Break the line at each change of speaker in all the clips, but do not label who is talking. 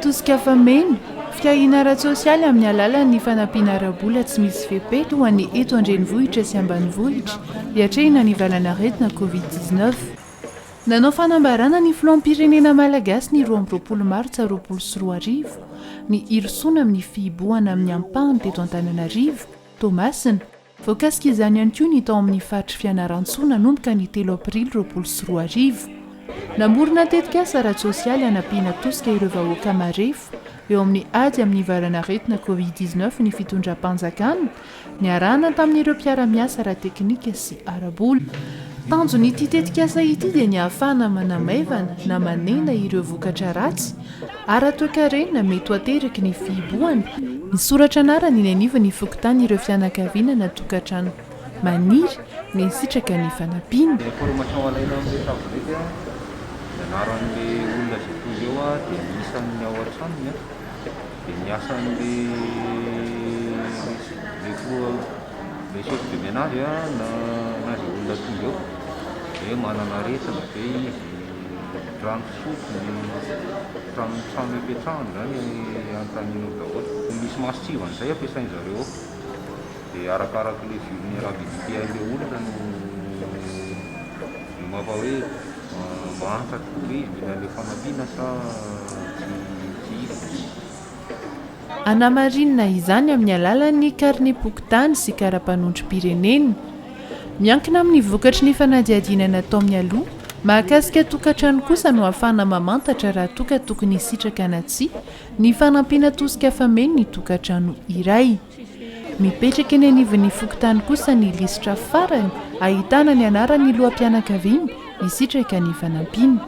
Tosika fameno, fitahiana ara-tsosialy amin'ny alalan'ny fanampiana ara-bola tsy misy fepetra ho an'ny eto an-drenivohitra sy ambanivohitra hiatrehina ny valan'aretina Covid dix-neuf. Nanao fanambarana ny filoham-pirenena malagasy ny roa amby roapolo martsa roapolo sy roa arivo, ny hirosoana amin'ny fihibohana amin'ny ampahany teto Antananarivo, Toamasina. Voakasika izany ihany koa ny tao amin'ny faritry Fianarantsoa nanomboka ny telo aprily roapolo sy roa arivo. Namorona tetikasa ara-tsosialy hanampiana tosika ireo vahoaka marefo eo amin'ny ady amin'ny varanaretina covid dix-neuf ny fitondram-panjakana, Niarahana tamin'ireo mpiara-miasa ara-teknika sy ara-bola. Tanjon'ity tetikasa ity dia ny ahafahana manamaivana na manena ireo vokatra ratsy ara-toekarena mety ho ateraky ny fihibohana. Misoratra anarana eny anivon'ny fokontany ireo fianakaviana na tokantrano maniry na hisitraka ny fanampiana. Ny information alaina amin'ny tablette dia
ny anaran'ny olona izay tonga eo dia ny isan'ny ao an-tranony. dia ny asan'ilay toa ilay chef de menage na na izay olona tonga eo dia hoe manana aretina ve izy, rano fisotro, ny trano ny trano ipetrahany izany anontanianao daholo. Misy mason-tsivana izay ampiasain-dRareo ao dia arakarak'ilay vulnerabilité an'ilay olona no no mampa hoe. Mahafantatra hoe mila ilay fanampiana sa tsy
hisy? Anamarinina izany amin'ny alalan'ny karnem-pokontany sy karapanondrom-pirenena. Miankina amin'ny vokatry ny fanadihadiana natao mialoha mahakasika tokantrano kosa no ahafahana mamantatra raha toa ka tokony hisitraka na tsia ny fanampiana tosika fameno ny tokantrano iray. Mipetraka eny anivon'ny fokontany kosa ny lisitra farany ahitana ny anaran'ny loham-pianakaviana hisitraka ny fanampiana.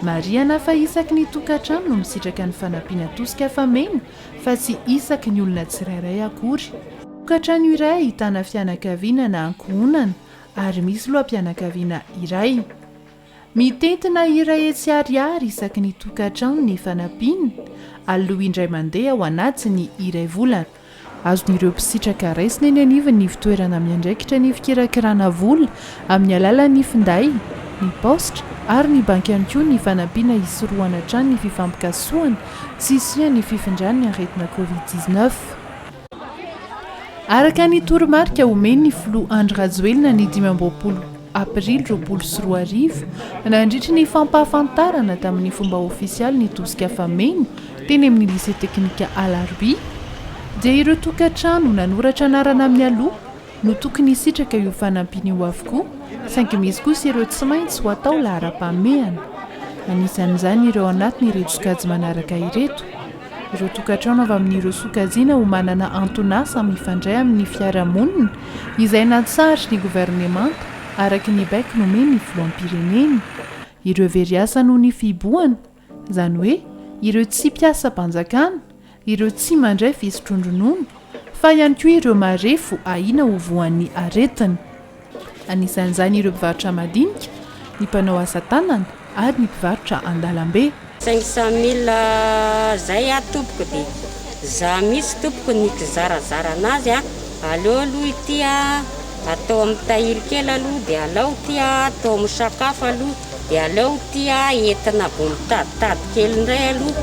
Marihana fa isaky ny tokantrano no misitraka ny fanampiana tosika fameno fa tsy isaky ny olona tsirairay akory. Tokantrano iray ahitana fianakaviana na ankohonana ary misy loham-pianakaviana iray. Mitentina hira hetsy ariary isaky ny tokantrano ny fanampiana, aloha indray mandeha ao anatin'ny iray volana. Azon'ireo mpisitraka raisina eny anivon'ny fitoerana miandraikitra ny fikirakirana vola amin'ny alalan'ny finday, ny paositra ary ny banky ihany koa ny fanampiana hisorohana hatrany ny fifampikasohana sy hisian'ny fifindran'ny aretina Covid dix-neuf. Araka ny toromarika omen'ny filoha Andry Rajoelina ny dimy amby roapolo aprily roapolo sy roa arivo, nandritra ny fampahafantarana tamin'ny fomba ofisialy ny tosika fameno teny amin'ny Lycée Teknika Alarobia, dia ireo tokantrano nanoratra anarana mialoha no tokony hisitraka io fanampiana io avokoa, saingy misy kosa ireo tsy maintsy ho atao laharam-pahamehana. Anisan'izany ireo anatin'ireto sokajy manaraka ireto. Ireo tokantrano avy amin'ireo sokajiana ho manana anton'asa mifandray amin'ny fiarahamonina, izay natsarin'ny governemanta, araka ny baiko nomen'ny filoham-pirenena. Ireo very asa noho ny fihibohana, izany hoe ireo tsy mpiasam-panjakana, ireo tsy mandray fisotroan-dronono, fa ihany koa ireo marefo ahiana ho voan'ny aretina. anisan'izany ireo mpivarotra madinika, ny mpanao asa tanana ary ny mpivarotra an-dalambe. Cinq cent mille
zay a tompoko de za mitsy tompoko nikizarazara anazy a, aleo aloha ity a atao am tahiry kely aloha de alao ty a atao am sakafo aloha de aleo ty a entina vao mitaditady kely ndray aloha.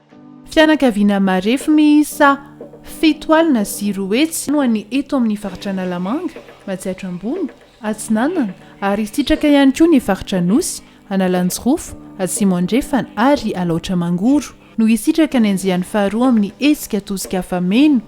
Fianakaviana marefo miisa fito alina sy roa hetsy no any eto amin'ny faritra Analamanga, Matsiatra Ambony, Atsinanana ary hisitraka ihany koa ny faritra Anosy, Analanjirofo, Atsimo Andrefana ary Alaotra Mangoro no hisitraka ny andiany faharoa amin'ny hetsika tosika afa-meno,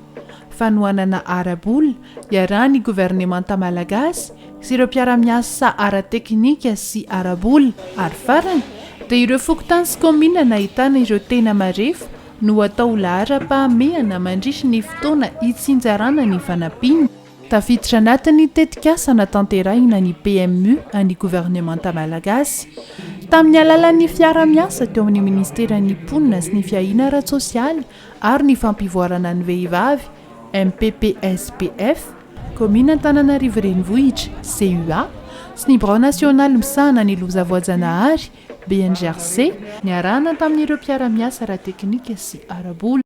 fanohanana ara-bola, Iarahan'ny governemanta malagasy sy ireo mpiara-miasa ara-teknika sy ara-bola ary farany dia ireo fokontany sy kaominina nahitana ireo tena marefo no atao ho laharam-pahamehana mandritry ny fotoana hitsinjarana ny fanampiana tafiditra anatin'ny tetikasa natanterahina ny PMU an'ny governemanta malagasy tamin'ny alalan'ny fiara-miasa teo amin'ny ministeran'ny mponina sy ny fiahiana ara-tsosialy ary ny fampivoarana ny vehivavy, MPPSPF, Kaominina Antananarivo Renivohitra, CUA, sy ny Birao Nasionaly Misahana ny Loza Voajanahary, BNGRC, niarahana tamin'ireo mpiara-miasa ara-teknika sy ara-bola.